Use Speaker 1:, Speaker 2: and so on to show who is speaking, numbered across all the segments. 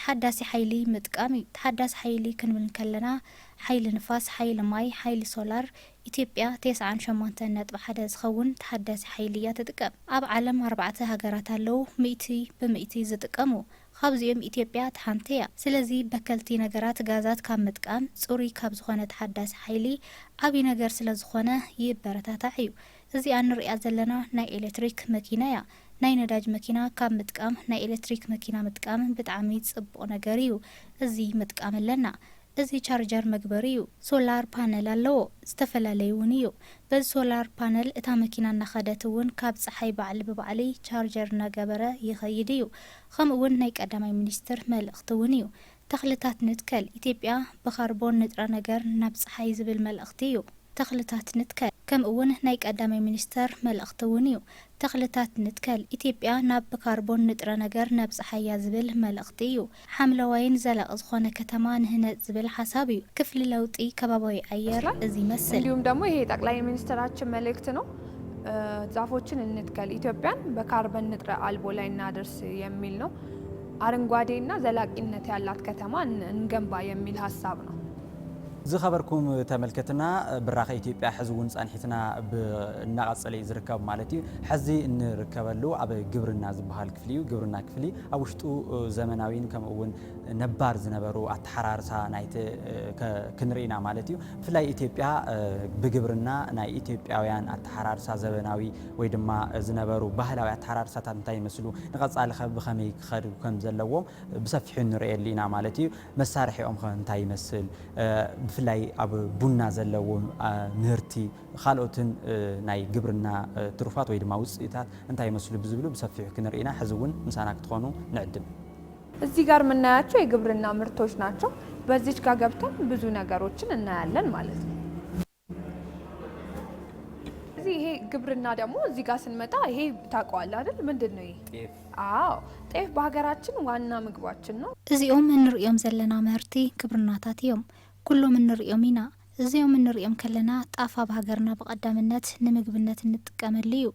Speaker 1: ተሓዳሲ ሓይሊ ምጥቃም እዩ። ተሓዳሲ ሓይሊ ክንብል እንከለና ሓይሊ ንፋስ፣ ሓይሊ ማይ፣ ሓይሊ ሶላር፣ ኢትዮጵያ ቴስዓን ሸሞንተን ነጥቢ ሓደ ዝኸውን ተሓዳሲ ሓይሊ እያ ትጥቀም። ኣብ ዓለም ኣርባዕተ ሃገራት ኣለዉ ሚእቲ ብሚእቲ ዝጥቀሙ። ካብዚኦም ኢትዮጵያ እታ ሓንቲ እያ። ስለዚ በከልቲ ነገራት ጋዛት ካብ ምጥቃም ፅሩይ ካብ ዝኾነ ተሓዳሲ ሓይሊ ዓብዪ ነገር ስለዝኾነ ይበረታታዕ እዩ። እዚኣ እንርእያ ዘለና ናይ ኤሌክትሪክ መኪና እያ። ናይ ነዳጅ መኪና ካብ ምጥቃም ናይ ኤለትሪክ መኪና ምጥቃም ብጣዕሚ ጽቡቅ ነገር እዩ እዚ ምጥቃም ኣለና እዚ ቻርጃር መግበሪ እዩ ሶላር ፓነል ኣለዎ ዝተፈላለዩ እውን እዩ በዚ ሶላር ፓነል እታ መኪና እናከደት እውን ካብ ጸሓይ ባዕሊ ብባዕሊ ቻርጀር እናገበረ ይከይድ እዩ ከምኡ እውን ናይ ቀዳማይ ሚኒስትር መልእክቲ እውን እዩ ተኽልታት ንትከል፣ ኢትዮጵያ ብካርቦን ንጥረ ነገር ናብ ፀሓይ ዝብል መልእኽቲ ዩ ተኽልታት ንትከል። ከምኡ ውን ናይ ቀዳማይ ሚኒስተር መልእኽቲ ውን ዩ ተኽልታት ንትከል፣ ኢትዮጵያ ናብ ብካርቦን ንጥረ ነገር ነብፀሓያ ዝብል መልእኽቲ ዩ። ሓምለዋይን ዘላቒ ዝኾነ ከተማ ንህነፅ ዝብል ሓሳብ ዩ። ክፍሊ ለውጢ ከባብያዊ ኣየር እዚ ይመስል። እንዲሁም ደግሞ ይሄ የጠቅላይ
Speaker 2: ሚኒስትራችን መልእክት ነው ዛፎችን እንትከል ኢትዮጵያን በካርበን ንጥረ አልቦ ላይ እናድርስ የሚል ነው። ኣረንጓዴ እና ዘላቂነት ያላት ከተማ እንገንባ የሚል ሀሳብ ነው። ዝከበርኩም
Speaker 3: ተመልከትና ብራከ ኢትዮጵያ ሕዚ እውን ፃኒሕትና ብ እናቀፀለ እዩ ዝርከብ ማለት እዩ ሕዚ እንርከበሉ ኣብ ግብርና ዝበሃል ክፍሊ እዩ ግብርና ክፍሊ ኣብ ውሽጡ ዘመናዊን ከምኡ እውን ነባር ዝነበሩ ኣተሓራርሳ ናይቲ ክንርኢ ኢና ማለት እዩ ብፍላይ ኢትዮጵያ ብግብርና ናይ ኢትዮጵያውያን ኣተሓራርሳ ዘበናዊ ወይ ድማ ዝነበሩ ባህላዊ ኣተሓራርሳታት እንታይ ይመስሉ፣ ንቐጻሊ ከ ብኸመይ ክኸዱ ከም ዘለዎም ብሰፊሑ ንርእየሉ ኢና ማለት እዩ። መሳርሒኦም ከ እንታይ ይመስል፣ ብፍላይ ኣብ ቡና ዘለዎም ምህርቲ፣ ካልኦትን ናይ ግብርና ትሩፋት ወይ ድማ ውጽኢታት እንታይ ይመስሉ ብዝብሉ ብሰፊሑ ክንርኢ ኢና። ሕዚ እውን ምሳና ክትኾኑ ንዕድም። እዚህ ጋር
Speaker 2: ምናያቸው የግብርና ምርቶች ናቸው። በዚች ጋር ገብተን ብዙ ነገሮችን እናያለን ማለት ነው። እዚህ ይሄ ግብርና ደግሞ እዚህ ጋር ስንመጣ ይሄ ታውቀዋለህ አይደል? ምንድን ነው ይሄ? ጤፍ አዎ
Speaker 3: ጤፍ
Speaker 2: በሀገራችን ዋና ምግባችን ነው። እዚኦም እንርእዮም
Speaker 1: ዘለና ምህርቲ ግብርናታት እዮም። ኩሎም እንርእዮም ኢና። እዚኦም እንርእዮም ከለና ጣፍ ኣብ ሃገርና ብቀዳምነት ንምግብነት እንጥቀመሉ እዩ።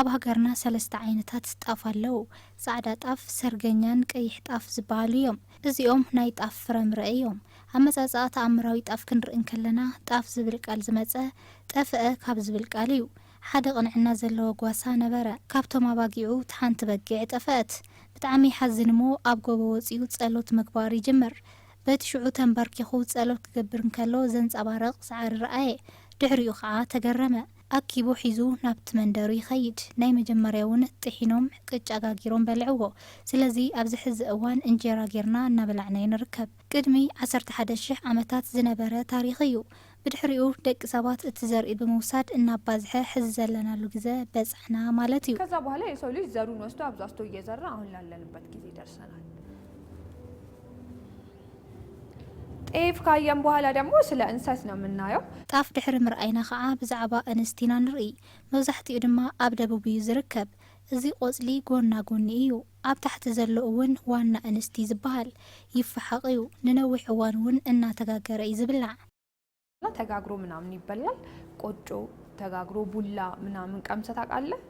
Speaker 1: ኣብ ሃገርና ሰለስተ ዓይነታት ጣፍ ኣለው። ጻዕዳ ጣፍ፣ ሰርገኛን ቀይሕ ጣፍ ዝበሃሉ እዮም። እዚኦም ናይ ጣፍ ፍረምረ እዮም። ኣመጻጽኣ ተኣምራዊ ጣፍ ክንርኢ እንከለና፣ ጣፍ ዝብል ቃል ዝመጸ፣ ጠፍአ ካብ ዝብል ቃል እዩ። ሓደ ቅንዕና ዘለዎ ጓሳ ነበረ። ካብቶም ኣባጊዑ እታ ሓንቲ በጊዕ ጠፈአት። ብጣዕሚ ይሓዝን እሞ ኣብ ጎቦ ወጺኡ ጸሎት ምግባር ይጅምር። በቲ ሽዑ ተንበርኪኹ ጸሎት ክገብር እንከሎ ዘንጸባርቕ ጻዕሪ ረኣየ። ድሕሪኡ ከኣ ተገረመ። ኣኪቡ ሒዙ ናብቲ መንደሩ ይኸይድ። ናይ መጀመርያ እውን ጥሒኖም ቅጫ ጋጊሮም በልዕዎ። ስለዚ ኣብዚ ሕዚ እዋን እንጀራ ጌርና እናበላዕናዮ ንርከብ። ቅድሚ ዓሰርተ ሓደ ሽሕ ዓመታት ዝነበረ ታሪኽ እዩ። ብድሕሪኡ ደቂ ሰባት እቲ ዘርኢ ብምውሳድ እናባዝሐ ሕዚ ዘለናሉ ግዘ በፃሕና ማለት እዩ። ከዛ በኋላ የሰው ልጅ ዘሩን
Speaker 2: ወስዶ ኣብዛዝቶ እየዘራ አሁን ላለንበት ጊዜ ደርሰናል። ጤፍ ካየን በኋላ ደግሞ ስለ እንሰት ነው ምናየው። ጣፍ ድሕሪ ምርኣይና
Speaker 1: ኸዓ ብዛዕባ እንስት ኢና ንርኢ። መብዛሕትኡ ድማ ኣብ ደቡብ እዩ ዝርከብ። እዚ ቆፅሊ ጎና ጎኒ እዩ። ኣብ ታሕቲ ዘሎ እውን ዋና እንስት እዩ ዝበሃል። ይፈሓቕ እዩ። ንነዊሕ እዋን እውን እናተጋገረ እዩ ዝብላዕ። ተጋግሮ
Speaker 2: ምናምን ይበላል። ቆጮ ተጋግሮ ቡላ ምናምን ቀምሰ ታውቃለህ?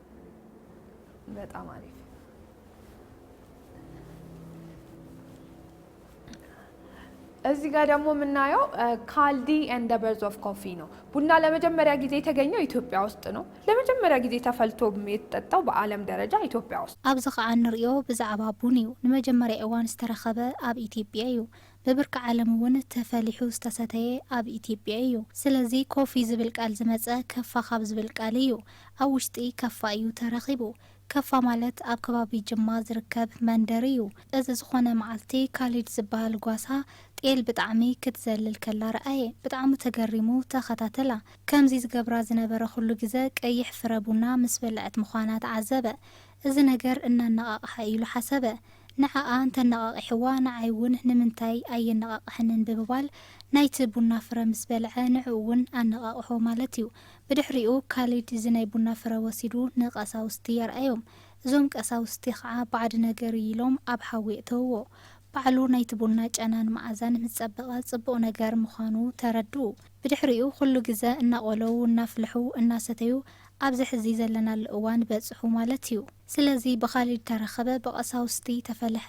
Speaker 2: በጣም አሪፍ እዚህ ጋር ደግሞ የምናየው ካልዲ ኤንድ በርዝ ኦፍ ኮፊ ነው። ቡና ለመጀመሪያ ጊዜ የተገኘው ኢትዮጵያ ውስጥ ነው። ለመጀመሪያ ጊዜ ተፈልቶ የተጠጣው በዓለም ደረጃ ኢትዮጵያ ውስጥ ኣብዚ ከኣ እንርእዮ
Speaker 1: ብዛዕባ ቡን እዩ። ንመጀመርያ እዋን ዝተረኸበ ኣብ ኢትዮጵያ እዩ። ብብርኪ ዓለም እውን ተፈሊሑ ዝተሰተየ ኣብ ኢትዮጵያ እዩ። ስለዚ ኮፊ ዝብል ቃል ዝመፀ ከፋ ካብ ዝብል ቃል እዩ። ኣብ ውሽጢ ከፋ እዩ ተረኺቡ። ከፋ ማለት ኣብ ከባቢ ጅማ ዝርከብ መንደር እዩ። እዚ ዝኾነ መዓልቲ ካሊድ ዝበሃል ጓሳ ጤል ብጣዕሚ ክትዘልል ከላ ረኣየ። ብጣዕሚ ተገሪሙ ተኸታተላ። ከምዚ ዝገብራ ዝነበረ ኩሉ ግዘ ቀይሕ ፍረ ቡና ምስ በልዐት ምዃና ተዓዘበ። እዚ ነገር እናነቓቕሓ ኢሉ ሓሰበ። ንዓኣ እንተነቓቒሕዋ ንዓይ እውን ንምንታይ ኣየነቓቕሐንን ብምባል ናይቲ ቡና ፍረ ምስ በልዐ ንዕኡ እውን ኣነቓቕሖ ማለት እዩ። ብድሕሪኡ ካሊድ እዚ ናይ ቡና ፍረ ወሲዱ ንቀሳውስቲ ኣርኣዮም። እዞም ቀሳውስቲ ከዓ ባዕዲ ነገር እዩ ኢሎም ኣብ ሓዊ የእተውዎ። ባዕሉ ናይቲ ቡና ጨናን መዓዛን ምስ ፀበቐ ፅቡቕ ነገር ምዃኑ ተረድኡ። ብድሕሪኡ ኩሉ ግዘ እናቖለው እናፍልሑ እናሰተዩ ኣብዚ ሕዚ ዘለናሉ እዋን በጽሑ ማለት እዩ። ስለዚ ብኻሊድ ተረኸበ፣ ብቀሳውስቲ ተፈለሐ፣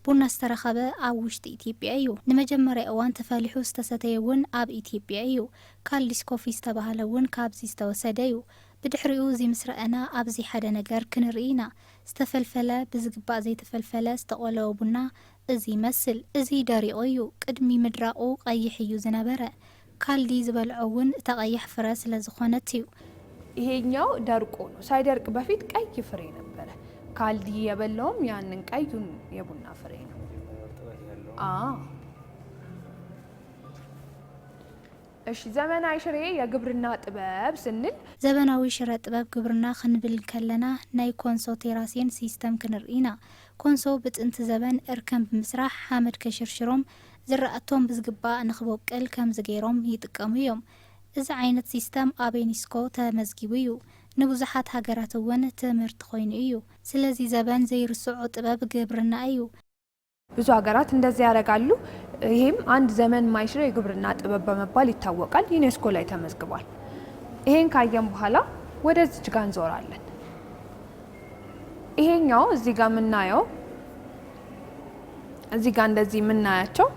Speaker 1: ቡና ዝተረኸበ ኣብ ውሽጢ ኢትዮጵያ እዩ። ንመጀመርያ እዋን ተፈሊሑ ዝተሰተየ እውን ኣብ ኢትዮጵያ እዩ። ካልዲስ ኮፊ ዝተባህለ እውን ካብዚ ዝተወሰደ እዩ። ብድሕሪኡ እዚ ምስ ረኣና ኣብዚ ሓደ ነገር ክንርኢ ኢና። ዝተፈልፈለ፣ ብዝግባእ ዘይተፈልፈለ፣ ዝተቆለወ ቡና፣ እዚ ይመስል እዚ ደሪቑ እዩ ቅድሚ ምድራቑ ቐይሕ እዩ ዝነበረ ካልዲ ዝበልዖ እውን እታ ቐያሕ ፍረ ስለ ዝኾነት እዩ። ይሄኛው
Speaker 2: ደርቆ ነው ሳይደርቅ በፊት ቀይ ፍሬ ነበረ ካልዲ የበላውም ያንን ቀዩን የቡና ፍሬ ነው አዎ እሺ ዘመናዊ ሽሬ የግብርና ጥበብ ስንል። ዘበናዊ ሽረ
Speaker 1: ጥበብ ግብርና ክንብል ከለና ናይ ኮንሶ ቴራሴን ሲስተም ክንርኢ ኢና ኮንሶ ብጥንቲ ዘበን እርከን ብምስራሕ ሓመድ ከሽርሽሮም ዝራእቶም ብዝግባእ ንክቦቅል ከምዚ ገይሮም ይጥቀሙ እዮም። እዚ ዓይነት ሲስተም ኣብ ዩኒስኮ ተመዝጊቡ እዩ። ንብዙሓት ሃገራት እውን ትምህርቲ ኮይኑ እዩ። ስለዚ ዘበን ዘይርስዖ ጥበብ ግብርና እዩ። ብዙ
Speaker 2: ሃገራት እንደዚ ያረጋሉ። ይሄም አንድ ዘመን የማይሽረው የግብርና ጥበብ በመባል ይታወቃል። ዩኔስኮ ላይ ተመዝግቧል። ይሄን ካየን በኋላ ወደዚች ጋር እንዞራለን። ይሄኛው እዚህ ጋር የምናየው እዚህ ጋር እንደዚህ የምናያቸው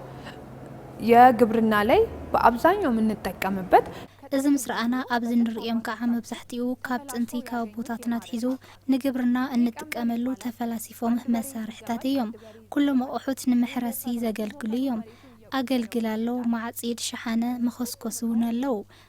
Speaker 2: የግብርና ላይ በአብዛኛው የምንጠቀምበት እዚ ምስ
Speaker 1: ረኣና ኣብዚ ንርእዮም ከዓ መብዛሕትኡ ካብ ጥንቲ ካብ ኣቦታትና ኣትሒዙ ንግብርና እንጥቀመሉ ተፈላሲፎም መሳርሕታት እዮም ኩሎም ኣቑሑት ንምሕረሲ ዘገልግሉ እዮም ኣገልግል ኣሎ ማዕፂድ ሸሓነ መኸስኮሲ እውን ኣለው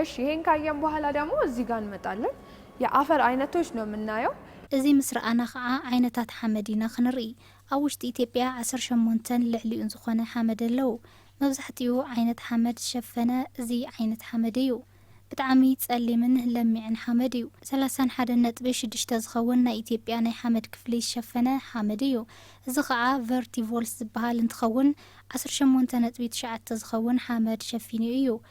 Speaker 2: እሺ ይሄን ካየን በኋላ ደግሞ እዚህ ጋር እንመጣለን የአፈር አይነቶች ነው የምናየው። እዚ ምስ ረኣና
Speaker 1: ከኣ ዓይነታት ሓመድ ኢና ክንርኢ። ኣብ ውሽጢ ኢትዮጵያ ዓሰርተ ሸሞንተን ልዕሊኡን ዝኾነ ሓመድ ኣለው። መብዛሕቲኡ ዓይነት ሓመድ ዝሸፈነ እዚ ዓይነት ሓመድ እዩ። ብጣዕሚ ጸሊምን ለሚዕን ሓመድ እዩ። ሰላሳን ሓደን ነጥቢ ሽዱሽተ ዝኸውን ናይ ኢትዮጵያ ናይ ሓመድ ክፍሊ ዝሸፈነ ሓመድ እዩ። እዚ ከኣ ቨርቲቮልስ ዝበሃል እንትኸውን ዓሰርተ ሸሞንተ ነጥቢ ትሽዓተ ዝኸውን ሓመድ ሸፊኑ እዩ።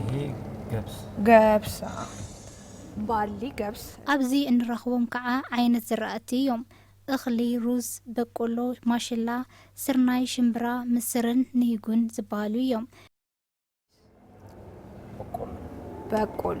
Speaker 2: ይሄ
Speaker 3: ገብስ
Speaker 2: ገብስ ባሊ ገብስ ኣብዚ እንረኽቦም
Speaker 1: ከኣ ዓይነት ዝራእቲ እዮም። እኽሊ፣ ሩዝ፣ በቆሎ፣ ማሽላ፣ ስርናይ፣ ሽምብራ፣ ምስርን ንሂጉን ዝበሃሉ እዮም።
Speaker 2: በቆሎ በቆሎ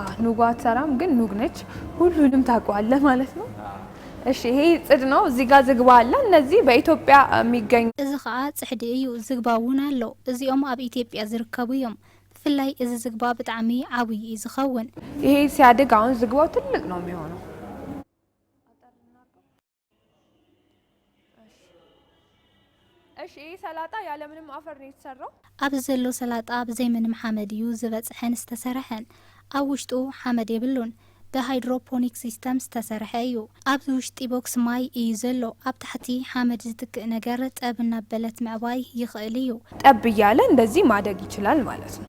Speaker 2: አዎ፣ ኑጓ አትሰራም ግን ኑግ ነች። ሁሉንም ታውቀዋለህ ማለት ነው። እሺ ይሄ ጽድ ነው። እዚህ ጋር ዝግባ አለ። እነዚህ በኢትዮጵያ የሚገኙ እዚ ኸኣ ጽሕዲ
Speaker 1: እዩ፣ ዝግባ እውን ኣሎ። እዚኦም ኣብ ኢትዮጵያ ዝርከቡ እዮም። ብፍላይ እዚ ዝግባ ብጣዕሚ ዓብዩ እዩ ዝኸውን። ይሄ ሲያድግ
Speaker 2: አሁን ዝግባው ትልቅ ነው የሚሆነው። እሺ ይሄ ሰላጣ ያለምንም አፈር ነው የተሰራው። ኣብዚ ዘሎ ሰላጣ
Speaker 1: ብዘይ ምንም ሓመድ እዩ ዝበጽሐን ዝተሰርሐን። ኣብ ውሽጡ ሓመድ የብሉን። ብሃይድሮፖኒክ ሲስተም ዝተሰርሐ እዩ። ኣብዚ ውሽጢ ቦክስ ማይ እዩ ዘሎ። ኣብ ታሕቲ ሓመድ ዝትክእ ነገር ጠብ እናበለት ምዕባይ ይኽእል እዩ። ጠብ እያለ
Speaker 2: እንደዚህ ማደግ ይችላል ማለት ነው።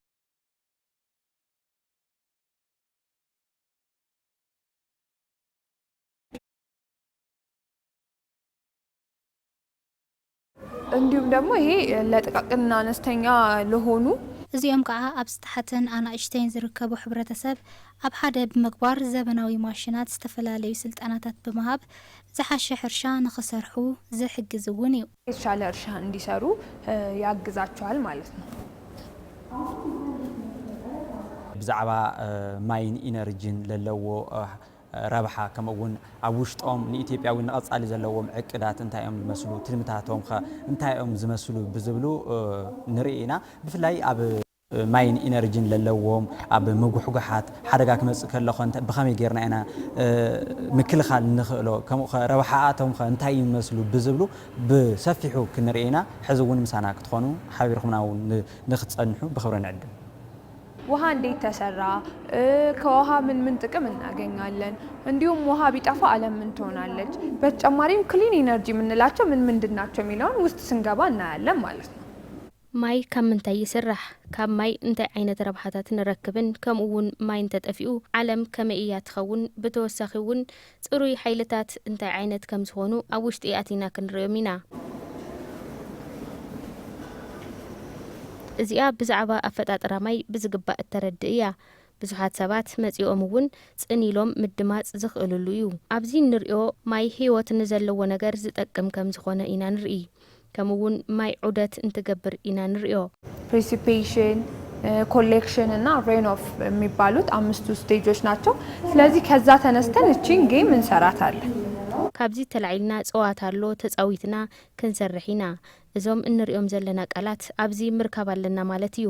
Speaker 2: እንዲሁም ደግሞ ይሄ ለጥቃቅንና አነስተኛ ለሆኑ እዚኦም ከኣ
Speaker 1: ኣብ ዝተሓተን ኣናእሽተይን ዝርከቡ ሕብረተሰብ ኣብ ሓደ ብምግባር ዘበናዊ ማሽናት ዝተፈላለዩ ስልጠናታት ብምሃብ ዝሓሸ ሕርሻ ንኽሰርሑ ዝሕግዝ እውን እዩ። የተሻለ እርሻ
Speaker 2: እንዲሰሩ ያግዛቸዋል ማለት ነው።
Speaker 3: ብዛዕባ ማይን ኢነርጅን ለለዎ ረብሓ ከምኡ እውን ኣብ ውሽጦም ንኢትዮጵያዊ ንቐፃሊ ዘለዎም ዕቅዳት እንታይ እዮም ዝመስሉ ትልምታቶም ኸ እንታይ እዮም ዝመስሉ ብዝብሉ ንርኢ ኢና ብፍላይ ኣብ ማይን ኢነርጅን ለለዎም ኣብ ምጉሕጓሓት ሓደጋ ክመፅእ ከሎ ኸ ብኸመይ ገይርና ኢና ምክልኻል ንኽእሎ ከምኡ ኸ ረብሓኣቶም ኸ እንታይ እዩ ዝመስሉ ብዝብሉ ብሰፊሑ ክንርኢ ኢና ሕዚ እውን ምሳና ክትኾኑ ሓቢርኹምና እውን ንኽትፀንሑ ብኽብሪ ንዕድም። ውሃ
Speaker 2: እንዴት ተሰራ? ከውሃ ምን ምን ጥቅም እናገኛለን? እንዲሁም ውሃ ቢጠፋ አለም ምን ትሆናለች? በተጨማሪም ክሊን ኢነርጂ የምንላቸው ምን ምንድን ናቸው የሚለውን ውስጥ ስንገባ እናያለን ማለት ነው። ማይ ካብ
Speaker 4: ምንታይ ይስራሕ? ካብ ማይ እንታይ ዓይነት ረብሓታት ንረክብን ከምኡ እውን ማይ እንተጠፊኡ ዓለም ከመይ እያ ትኸውን? ብተወሳኺ እውን ጽሩይ ሓይልታት እንታይ ዓይነት ከም ዝኾኑ ኣብ ውሽጢ ኣቲና ክንርእዮም ኢና። እዚኣ ብዛዕባ ኣፈጣጥራ ማይ ብዝግባእ እተረድእ እያ። ብዙሓት ሰባት መጺኦም እውን ጽን ኢሎም ምድማጽ ዝኽእልሉ እዩ። ኣብዚ እንርእዮ ማይ ህይወት ንዘለዎ ነገር ዝጠቅም ከም ዝኾነ ኢና ንርኢ። ከምኡ እውን ማይ ዑደት እንትገብር ኢና ንሪኦ። ፕሪሲፔሽን፣
Speaker 2: ኮሌክሽን እና ሬን ኦፍ የሚባሉት አምስቱ ስቴጆች ናቸው። ስለዚህ ከዛ ተነስተን እቺን ጌም እንሰራታለን። ካብዚ
Speaker 4: ተላዒልና ፀዋታ ኣሎ ተፃዊትና ክንሰርሕ ኢና። እዞም እንሪኦም ዘለና ቃላት ኣብዚ ምርካብ ኣለና ማለት እዩ።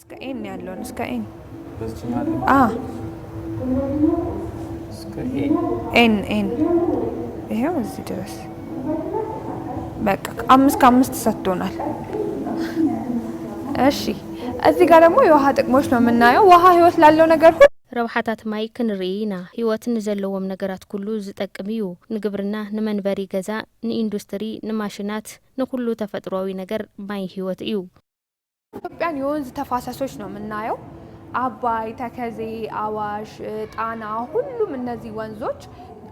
Speaker 2: እስከ ኤን ያለውን እስከ ኤን በዚህኛው አለ አ እስከ ኤ ኤን ኤን ይሄው እዚህ ድረስ በቃ አምስት ከአምስት ሰጥቶናል። እሺ እዚህ ጋር ደግሞ የውሃ ጥቅሞች ነው የምናየው። ውሃ ህይወት ላለው ነገር ሁሉ ረብሓታት ማይ
Speaker 4: ክንርኢ ኢና ህይወት ንዘለዎም ነገራት ኩሉ ዝጠቅም እዩ ንግብርና ንመንበሪ ገዛ ንኢንዱስትሪ ንማሽናት ንኩሉ ተፈጥሮዊ ነገር ማይ ህይወት እዩ ኢትዮጵያን
Speaker 2: የወንዝ ተፋሰሶች ነው የምናየው አባይ፣ ተከዜ፣ አዋሽ፣ ጣና ሁሉም እነዚህ ወንዞች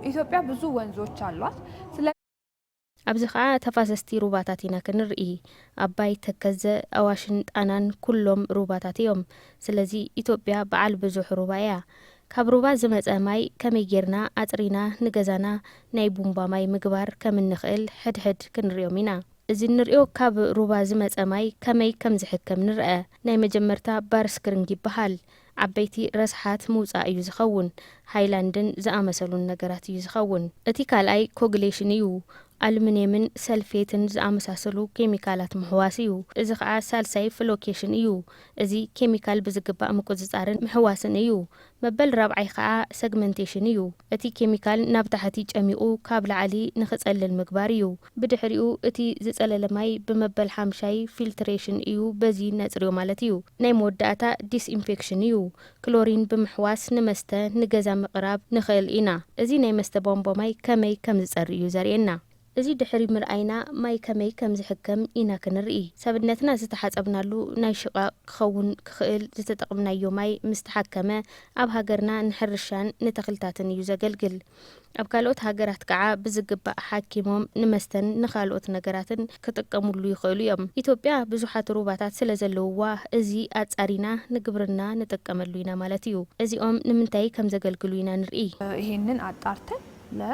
Speaker 2: ኢትዮጵያ ብዙ ወንዞች አሏት።
Speaker 4: ኣብዚ ከዓ ተፋሰስቲ ሩባታት ኢና ክንርኢ ኣባይ፣ ተከዘ፣ ኣዋሽን ጣናን ኩሎም ሩባታት እዮም። ስለዚ ኢትዮጵያ በዓል ብዙሕ ሩባ እያ። ካብ ሩባ ዝመፀ ማይ ከመይ ጌርና ኣፅሪና ንገዛና ናይ ቡምባ ማይ ምግባር ከም እንኽእል ሕድሕድ ክንሪኦም ኢና። እዚ እንርእዮ ካብ ሩባ ዝመጸ ማይ ከመይ ከም ዝሕከም ንርኣ። ናይ መጀመርታ ባርስክሪንግ ይበሃል። ዓበይቲ ረስሓት ምውጻእ እዩ ዝኸውን። ሃይላንድን ዝኣመሰሉን ነገራት እዩ ዝኸውን። እቲ ካልኣይ ኮግሌሽን እዩ። ኣሉሚንየምን ሰልፌትን ዝኣመሳሰሉ ኬሚካላት ምሕዋስ እዩ። እዚ ከኣ ሳልሳይ ፍሎኬሽን እዩ። እዚ ኬሚካል ብዝግባእ ምቁጽጻርን ምሕዋስን እዩ። መበል ራብዓይ ከኣ ሰግመንቴሽን እዩ። እቲ ኬሚካል ናብ ታሕቲ ጨሚቑ ካብ ላዕሊ ንክጸልል ምግባር እዩ። ብድሕሪኡ እቲ ዝጸለለ ማይ ብመበል ሓምሻይ ፊልትሬሽን እዩ በዚ ነጽርዮ ማለት እዩ። ናይ መወዳእታ ዲስኢንፌክሽን እዩ። ክሎሪን ብምሕዋስ ንመስተ ንገዛ ምቕራብ ንኽእል ኢና። እዚ ናይ መስተ ቧንቧ ማይ ከመይ ከምዝጸሪ እዩ ዘርእየና። እዚ ድሕሪ ምርኣይና ማይ ከመይ ከም ዝሕከም ኢና ክንርኢ። ሰብነትና ዝተሓጸብናሉ ናይ ሽቓቕ ክኸውን ክኽእል ዝተጠቕምናዮ ማይ ምስ ተሓከመ ኣብ ሃገርና ንሕርሻን ንተኽልታትን እዩ ዘገልግል። ኣብ ካልኦት ሃገራት ከኣ ብዝግባእ ሓኪሞም ንመስተን ንኻልኦት ነገራትን ክጥቀምሉ ይኽእሉ እዮም። ኢትዮጵያ ብዙሓት ሩባታት ስለ ዘለውዋ እዚ ኣጻሪና ንግብርና ንጥቀመሉ ኢና ማለት እዩ። እዚኦም ንምንታይ ከም ዘገልግሉ ኢና ንርኢ። ይህንን ኣጣርተን
Speaker 2: ለ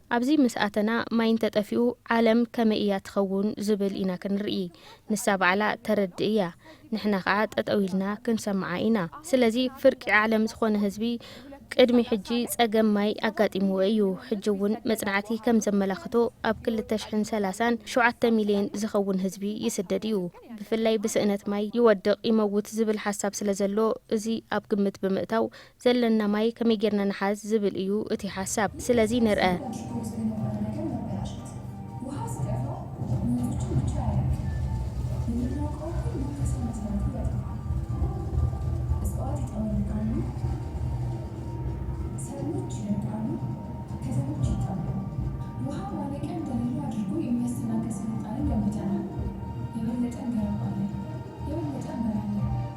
Speaker 2: ኣብዚ ምስ
Speaker 4: ኣተና ማይ እንተጠፊኡ ዓለም ከመይ እያ ትኸውን ዝብል ኢና ክንርኢ። ንሳ ባዕላ ተረድእ እያ ንሕና ከኣ ጠጠው ኢልና ክንሰምዓ ኢና። ስለዚ ፍርቂ ዓለም ዝኾነ ህዝቢ ቅድሚ ሕጂ ጸገም ማይ ኣጋጢምዎ እዩ። ሕጂ እውን መጽናዕቲ ከም ዘመላኽቶ ኣብ ክልተ ሽሕን ሰላሳን ሸውዓተ ሚልየን ዝኸውን ህዝቢ ይስደድ እዩ። ብፍላይ ብስእነት ማይ ይወድቕ ይመውት ዝብል ሓሳብ ስለ ዘሎ እዚ ኣብ ግምት ብምእታው ዘለና ማይ ከመይ ጌርና ንሓዝ ዝብል እዩ እቲ ሓሳብ። ስለዚ ንርኣ።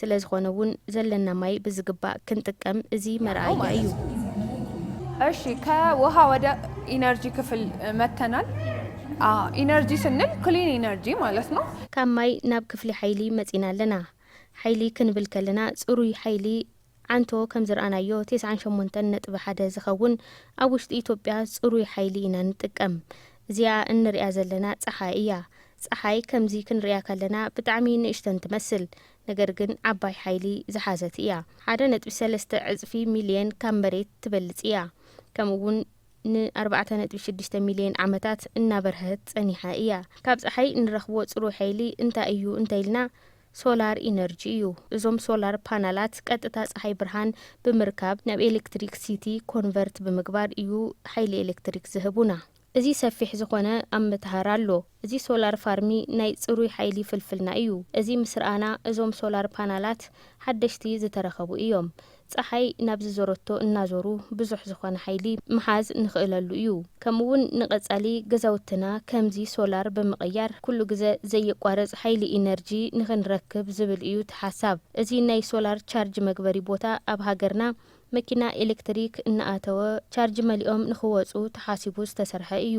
Speaker 4: ስለዝኾነ እውን ዘለና ማይ ብዝግባእ ክንጥቀም እዚ መርኣያ እዩ።
Speaker 2: እሺ ከውሃ ወደ ኢነርጂ ክፍል መተናል። ኢነርጂ ስንል ክሊን ኢነርጂ ማለት ነው። ካብ ማይ ናብ
Speaker 4: ክፍሊ ሓይሊ መፂና ኣለና። ሓይሊ ክንብል ከለና ፅሩይ ሓይሊ ዓንቶ ከም ዝርኣናዮ ቴስዓን ሸሞንተን ነጥቢ ሓደ ዝኸውን ኣብ ውሽጢ ኢትዮጵያ ፅሩይ ሓይሊ ኢና ንጥቀም። እዚኣ እንርእያ ዘለና ፀሓይ እያ። ፀሓይ ከምዚ ክንርእያ ከለና ብጣዕሚ ንእሽተን ትመስል ነገር ግን ዓባይ ሓይሊ ዝሓዘት እያ። ሓደ ነጥቢ ሰለስተ ዕፅፊ ሚሊየን ካብ መሬት ትበልፅ እያ። ከምኡ እውን ን ኣርባዕተ ነጥቢ ሽዱሽተ ሚሊየን ዓመታት እናበርሀት ፀኒሓ እያ። ካብ ፀሓይ እንረኽቦ ፅሩይ ሓይሊ እንታይ እዩ እንተኢልና፣ ሶላር ኢነርጂ እዩ። እዞም ሶላር ፓናላት ቀጥታ ፀሓይ ብርሃን ብምርካብ ናብ ኤሌክትሪክ ሲቲ ኮንቨርት ብምግባር እዩ ሓይሊ ኤሌክትሪክ ዝህቡና። እዚ ሰፊሕ ዝኾነ ኣመተሃራ ኣሎ። እዚ ሶላር ፋርሚ ናይ ፅሩይ ሓይሊ ፍልፍልና እዩ። እዚ ምስ ርኣና እዞም ሶላር ፓናላት ሓደሽቲ ዝተረኸቡ እዮም። ጸሓይ ናብ ዝዞረቶ እናዞሩ ብዙሕ ዝኾነ ሓይሊ ምሓዝ ንኽእለሉ እዩ። ከምኡ እውን ንቐጻሊ ገዛውትና ከምዚ ሶላር ብምቕያር ኩሉ ግዘ ዘየቋርጽ ሓይሊ ኢነርጂ ንኽንረክብ ዝብል እዩ እቲ ሓሳብ። እዚ ናይ ሶላር ቻርጅ መግበሪ ቦታ ኣብ ሃገርና መኪና ኤሌክትሪክ እናኣተወ ቻርጅ መሊኦም ንኽወጹ ተሓሲቡ ዝተሰርሐ እዩ።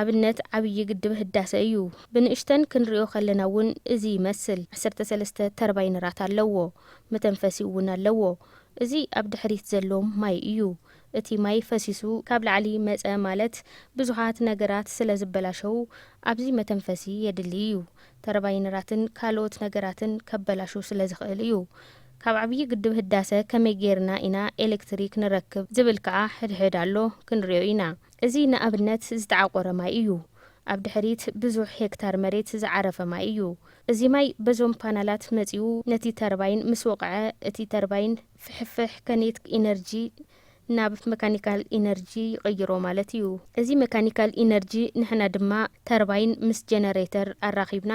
Speaker 4: ኣብነት ዓብዪ ግድብ ህዳሰ እዩ። ብንእሽተን ክንሪኦ ከለና እውን እዚ ይመስል። ዓሰርተ ሰለስተ ተርባይነራት ኣለዎ። መተንፈሲኡ እውን ኣለዎ። እዚ ኣብ ድሕሪት ዘሎ ማይ እዩ። እቲ ማይ ፈሲሱ ካብ ላዕሊ መፀ ማለት ብዙሓት ነገራት ስለ ዝበላሸዉ ኣብዚ መተንፈሲ የድሊ እዩ። ተርባይነራትን ካልኦት ነገራትን ከበላሹ ስለ ዝኽእል እዩ። ካብ ዓብዪ ግድብ ህዳሰ ከመይ ገይርና ኢና ኤሌክትሪክ ንረክብ ዝብል ከዓ ሕድሕድ ኣሎ። ክንሪኦ ኢና። እዚ ንኣብነት ዝተዓቖረ ማይ እዩ። ኣብ ድሕሪት ብዙሕ ሄክታር መሬት ዝዓረፈ ማይ እዩ። እዚ ማይ በዞም ፓናላት መጺኡ ነቲ ተርባይን ምስ ወቕዐ እቲ ተርባይን ፍሕፍሕ ከኔትክ ኢነርጂ ናብ መካኒካል ኢነርጂ ይቕይሮ ማለት እዩ። እዚ መካኒካል ኢነርጂ ንሕና ድማ ተርባይን ምስ ጀነሬተር ኣራኺብና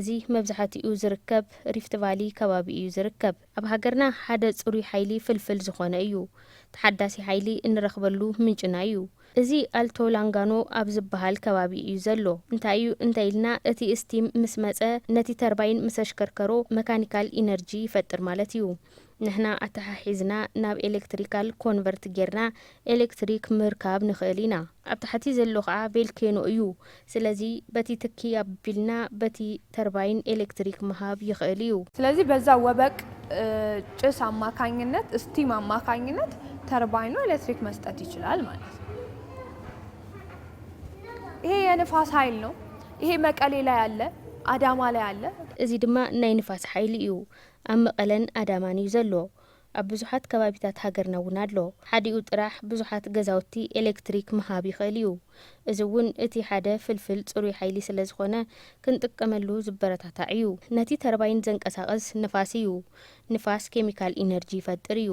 Speaker 4: እዚ መብዛሕቲኡ ዝርከብ ሪፍት ቫሊ ከባቢ እዩ ዝርከብ። ኣብ ሃገርና ሓደ ጽሩይ ሓይሊ ፍልፍል ዝኾነ እዩ። ተሓዳሲ ሓይሊ እንረኽበሉ ምንጭና እዩ። እዚ ኣልቶ ላንጋኖ ኣብ ዝበሃል ከባቢ እዩ ዘሎ። እንታይ እዩ እንተኢልና እቲ እስቲም ምስ መጸ ነቲ ተርባይን ምስ ኣሽከርከሮ መካኒካል ኢነርጂ ይፈጥር ማለት እዩ። ንሕና ኣተሓሒዝና ናብ ኤለክትሪካል ኮንቨርት ጌርና ኤለክትሪክ ምርካብ ንኽእል ኢና። ኣብ ታሕቲ ዘሎ ከኣ ቬልኬኖ እዩ። ስለዚ በቲ ትኪ ኣቢልና በቲ ተርባይን ኤለክትሪክ ምሃብ ይኽእል እዩ። ስለዚ በዛ ወበቅ
Speaker 2: ጭስ ኣማካኝነት፣ ስቲም ኣማካኝነት ተርባይኑ ኤለክትሪክ መስጠት ይችላል ማለት ነው። ይሄ የንፋስ ኃይል ነው። ይሄ መቀሌ ላይ አለ፣ አዳማ ላይ
Speaker 4: አለ። እዚ
Speaker 2: ድማ
Speaker 4: ናይ ንፋስ ሓይሊ እዩ። ኣብ መቐለን ኣዳማን
Speaker 2: እዩ
Speaker 4: ዘሎ። ኣብ ብዙሓት ከባቢታት ሃገርና እውን ኣሎ። ሓዲኡ ጥራሕ ብዙሓት ገዛውቲ ኤሌክትሪክ ምሃብ ይኽእል እዩ። እዚ እውን እቲ ሓደ ፍልፍል ፅሩይ ሓይሊ ስለ ዝኾነ ክንጥቀመሉ ዝበረታታዕ እዩ። ነቲ ተርባይን ዘንቀሳቕስ ንፋስ እዩ። ንፋስ ኬሚካል ኢነርጂ ይፈጥር እዩ።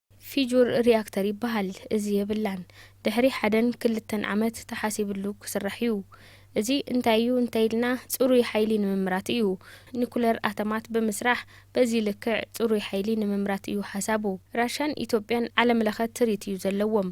Speaker 2: ፊጁር
Speaker 4: ሪኣክተር ይበሃል እዚ የብላን ድሕሪ ሓደን ክልተን ዓመት ተሓሲብሉ ክስራሕ እዩ እዚ እንታይ እዩ እንተኢልና ፅሩይ ሓይሊ ንምምራት እዩ ኒኩለር ኣተማት ብምስራሕ በዚ ልክዕ ፅሩይ ሓይሊ ንምምራት እዩ ሓሳቡ ራሻን ኢትዮጵያን ዓለምለኸ ትሪት እዩ ዘለዎም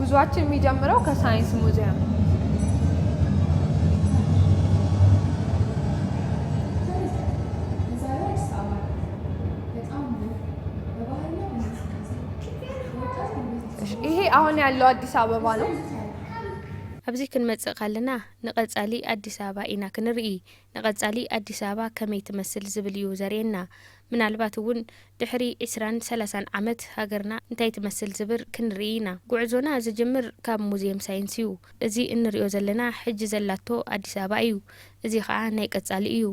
Speaker 2: ጉዞኣችን የሚጀምረው ከሳይንስ ሙዚየም ይሄ አሁን ያለው አዲስ አበባ ነው።
Speaker 4: ኣብዚ ክንመጽእ ካለና ንቐጻሊ ኣዲስ ኣበባ ኢና ክንርኢ ንቐፃሊ ኣዲስ ኣበባ ከመይ ትመስል ዝብል እዩ ዘርእየና። ምናልባት እውን ድሕሪ ዕስራን ሰላሳን ዓመት ሃገርና እንታይ ትመስል ዝብር ክንርኢ ኢና። ጉዕዞና ዝጅምር ካብ ሙዝየም ሳይንስ እዩ። እዚ እንሪኦ ዘለና ሕጂ ዘላቶ ኣዲስ ኣበባ እዩ። እዚ ከዓ ናይ ቀፃሊ እዩ።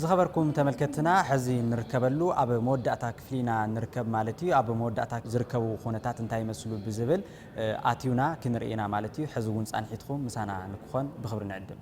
Speaker 3: ዝኸበርኩም ተመልከትና ሕዚ ንርከበሉ ኣብ መወዳእታ ክፍሊ ኢና ንርከብ ማለት እዩ ኣብ መወዳእታ ዝርከቡ ኩነታት እንታይ ይመስሉ ብዝብል ኣትዩና ክንርኢና ማለት እዩ ሕዚ እውን ፃንሒትኩም ምሳና ንክኾን ብክብሪ ንዕድም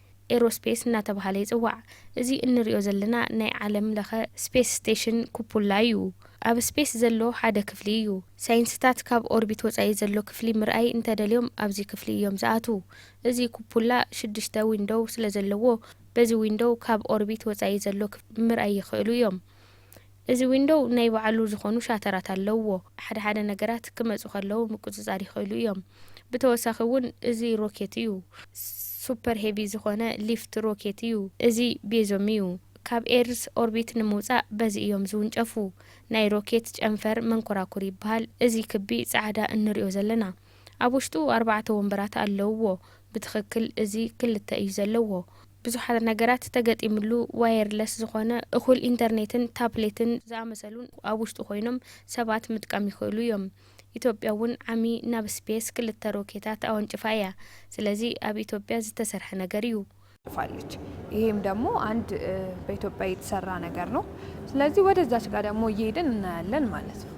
Speaker 4: ኤሮስፔስ እናተብሃለ ይጽዋዕ። እዚ እንርእዮ ዘለና ናይ ዓለም ለኸ ስፔስ ስቴሽን ኩፑላ እዩ። ኣብ ስፔስ ዘሎ ሓደ ክፍሊ እዩ። ሳይንስታት ካብ ኦርቢት ወጻኢ ዘሎ ክፍሊ ምርኣይ እንተደልዮም ኣብዚ ክፍሊ እዮም ዝኣትዉ። እዚ ኩፑላ ሽዱሽተ ዊንዶው ስለዘለዎ በዚ ዊንዶው ካብ ኦርቢት ወጻኢ ዘሎ ክፍሊ ምርኣይ ይኽእሉ እዮም። እዚ ዊንዶው ናይ ባዕሉ ዝኾኑ ሻተራት ኣለውዎ። ሓደ ሓደ ነገራት ክመጹ ከለው ምቁጽጻር ይኽእሉ እዮም። ብተወሳኺ እውን እዚ ሮኬት እዩ። ሱፐር ሄቪ ዝኾነ ሊፍት ሮኬት እዩ። እዚ ቤዞም እዩ። ካብ ኤርዝ ኦርቢት ንምውጻእ በዚ እዮም ዝውንጨፉ። ናይ ሮኬት ጨንፈር መንኮራኩር ይበሃል እዚ ክቢ ጻዕዳ እንሪኦ ዘለና። ኣብ ውሽጡ ኣርባዕተ ወንበራት ኣለውዎ። ብትኽክል እዚ ክልተ እዩ ዘለዎ። ብዙሓት ነገራት ተገጢምሉ ዋየርለስ ዝኾነ እኹል ኢንተርኔትን ታፕሌትን ዝኣመሰሉን ኣብ ውሽጡ ኮይኖም ሰባት ምጥቃም ይኽእሉ እዮም። ኢትዮጵያ እውን ዓሚ ናብ ስፔስ ክልተ ሮኬታት ኣወንጭፋ እያ። ስለዚ ኣብ ኢትዮጵያ ዝተሰርሐ ነገር እዩ። ፋለች
Speaker 2: ይሄም ደግሞ አንድ በኢትዮጵያ የተሰራ ነገር ነው። ስለዚህ ወደዛች ጋር ደግሞ እየሄድን እናያለን ማለት ነው።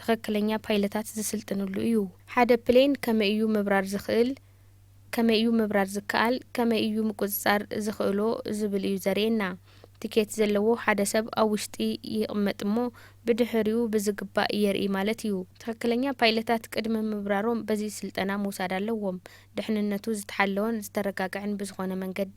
Speaker 4: ትኽክለኛ ፓይለታት ዝስልጥንሉ እዩ። ሓደ ፕሌን ከመይ እዩ ምብራር ዝኽእል፣ ከመይ እዩ ምብራር ዝከኣል፣ ከመይ እዩ ምቁፅፃር ዝኽእሎ ዝብል እዩ ዘርእየና። ቲኬት ዘለዎ ሓደ ሰብ ኣብ ውሽጢ ይቕመጥ እሞ ብድሕሪኡ ብዝግባእ የርእይ ማለት እዩ። ትኽክለኛ ፓይለታት ቅድሚ ምብራሮም በዚ ስልጠና ምውሳድ ኣለዎም። ድሕንነቱ ዝተሓለወን ዝተረጋገዐን ብዝኾነ መንገዲ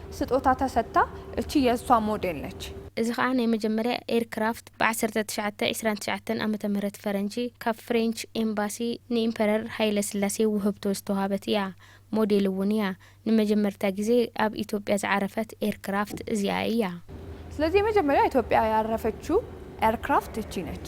Speaker 2: ስጦታ ተሰጥታ እቺ የሷ ሞዴል ነች። እዚ ከኣ ናይ
Speaker 4: መጀመርያ ኤርክራፍት ብ ዓሰርተ ትሽዓተ ዕስራን ትሽዓተን ዓመተ ምህረት ፈረንጂ ካብ ፍሬንች ኤምባሲ ንኢምፐረር ሃይለስላሴ ውህብቶ ዝተዋህበት እያ። ሞዴል እውን እያ። ንመጀመርታ ግዜ ኣብ ኢትዮጵያ ዝዓረፈት ኤርክራፍት እዚኣ እያ። ስለዚ
Speaker 2: የመጀመርያ ኢትዮጵያ ያረፈችው ኤርክራፍት እቺ ነች።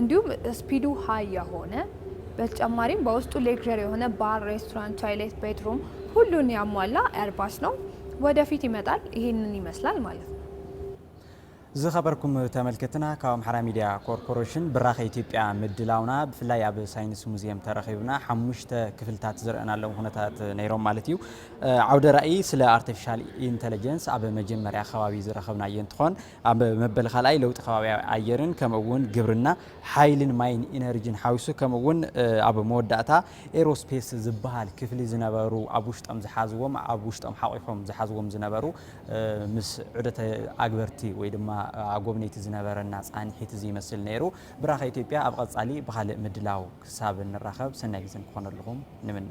Speaker 2: እንዲሁም ስፒዱ ሃይ የሆነ በተጨማሪም በውስጡ ሌክዠር የሆነ ባር፣ ሬስቶራንት፣ ቶይሌት፣ ቤድሩም ሁሉን ያሟላ ኤርባስ ነው። ወደፊት ይመጣል ይሄንን ይመስላል ማለት ነው። ዝኸበርኩም
Speaker 3: ተመልከትና ካብ ኣምሓራ ሚድያ ኮርፖሬሽን ብራኸ ኢትዮጵያ ምድላውና ብፍላይ ኣብ ሳይንስ ሙዚየም ተረኺብና ሓሙሽተ ክፍልታት ዝረአናሎም ኩነታት ነይሮም ማለት እዩ ዓውደ ራእይ ስለ ኣርቲፊሻል ኢንተለጀንስ ኣብ መጀመርያ ከባቢ ዝረኸብናዮ እንትኾን ኣብ መበል ካልኣይ ለውጢ ከባቢ ኣየርን ከምኡ እውን ግብርና፣ ሓይሊን ማይን ኢነርጂን ሓዊሱ ከምኡ እውን ኣብ መወዳእታ ኤሮስፔስ ዝበሃል ክፍሊ ዝነበሩ ኣብ ውሽጦም ዝሓዝዎም ኣብ ውሽጦም ሓቑፎም ዝሓዝዎም ዝነበሩ ምስ ዑደት ኣግበርቲ ወይ ድማ ኣጎብነይቲ ዝነበረና ፃንሒት እዚ ይመስል ነይሩ። ብራኸ ኢትዮጵያ ኣብ ቐፃሊ ብኻልእ ምድላው ክሳብ ንራኸብ ሰናይ ግዜ ንክኾነልኹም ንምነ።